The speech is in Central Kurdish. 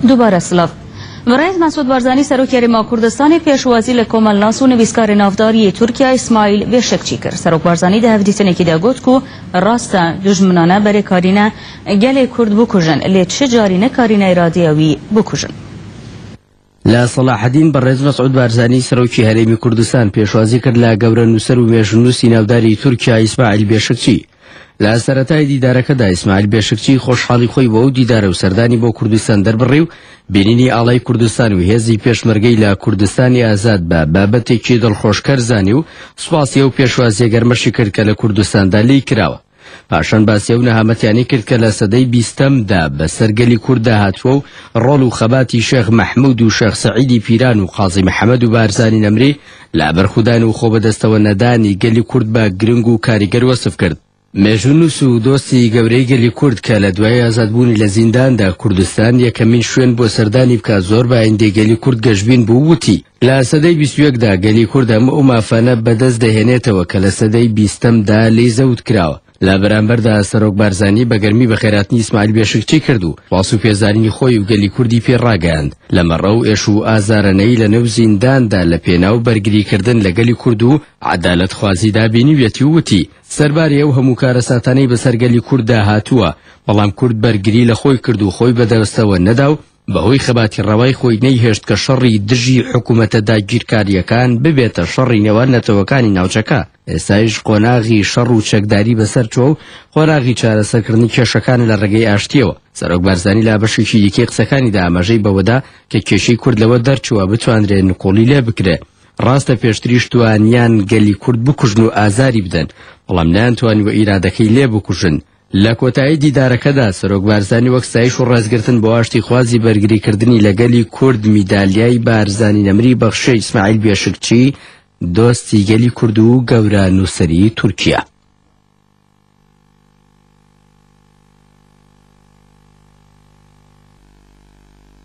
دووبارە سڵاڤ. بەڕێز مەسعود بارزانی سەرۆکی هەرێم و کوردستانی پێشوازی لە کۆمەلناس و نویسکاری ناودار ی تورکیا ئیسماعیل بێشکچی کرد. سەرۆک بارزانی دە هەڤدیتنێکی دا گۆت کو راستە دوژمنانە بەرێ کارینە گەلێ کورد بکوژن لێ چ جاری نەکارینە ئرادەیە وی بکوژن. لە سەڵاحەدین بەڕێز مەسعود بارزانی سەرۆکی هەرێمی کوردستان پێشوازی کرد لە گەورە نووسەر و مێژنووسی ناوداری تورکیا ئیسماعیل بێشکچی لە سەرەتای دیدارەکەدا ئیسماعیل بێشکچی خۆشحاڵی خۆی بۆ ئەو دیدارە و سەردانی بۆ کوردستان دەربڕی و بینینی ئاڵای کوردستان و هێزی پێشمەرگەی لە کوردستانی ئازاد بە بابەتێکی دڵخۆشکەر زانی و سوپاسی ئەو پێشوازیە گەرمەشی کرد کە لە کوردستاندا لی کراوە پاشان باسی ئەو نەهامەتیانی کرد کە لە سەدەی بیستەمدا بەسەر گەلی کورددا هاتووە و ڕۆڵ و خەباتی شێخ مەحمود و شێخ سەعیدی پیران و قازی محەممەد و بارزانی نەمری لە بەرخودان و خۆ بەدەستەوە نەدانی گەلی کورد بە گرنگ و کاریگەر وەسف کرد مێژونووس و دۆستی گەورەی گەلی کورد کە لە دوای ئازادبوونی لە زینداندا کوردستان یەکەمین شوێن بۆ سەردانی بکە زۆر بە ئایندەی گەلی کورد گەشبین بوو وتی لە سەدەی بیست و یەک دا گەلی کورد هەموو ئەو مافانە بە دەست دەهێنێتەوە کە لە سەدەی بیستەم دا لێی زەوت کراوە. لە بەرامبەر دا سەرۆک بارزانی بە گەرمی بەخێرهاتنی ئیسماعیل بێشکچی کرد و واز و پێزانینی خۆی و گەلی کوردی پێ ڕاگەیاند لە مەڕە و ئێش و ئازارەنەی لە نێو زیندان دا لە پێناو بەرگری کردن لە گەلی کورد و عەدالەت خوازی دا بینیویەتی و وتی سەرباری ئەو هەموو کارەساتانەی بە سەر گەلی کورد دا هاتووە بەڵام کورد بەرگری لە خۆی کرد و خۆی بە دەستەوە نەدا و بەهۆی خەباتی ڕەوای خۆی نەیهێشت کە شەڕی دژی حکوومەتە داگیرکارییەکان ببێتە شەڕی نێوان نەتەوەکانی ناوچەکە، ئێستایش قۆناغی شەڕ و چەکداری بەسەر چووە و قۆناغی چارەسەرکردنی کێشەکانە لە ڕێگەی ئاشتییەوە. سەرۆک بارزانی لە بەشێکی دیکەی قسەکانیدا ئاماژەی بەوەدا کە کێشەی کورد لەوە دەرچووە بتوانرێ نکوڵی لێ بکرێ، ڕاستە پێشتریش توانیان گەلی کورد بکوژن و ئازاری بدەن، بەڵام نەیانتوانیوە ئیرادەکەی لێ بکوژن، لە کۆتایی دیدارەکەدا سەرۆک بارزانی وەک ستایش و ڕێزگرتن بۆ ئاشتیخوازی بەرگریکردنی لە گەلی کورد میدالیای بارزانی نەمری بەخشیە ئیسماعیل بێشکچی دۆستی گەلی کورد و گەورە نووسری تورکیا.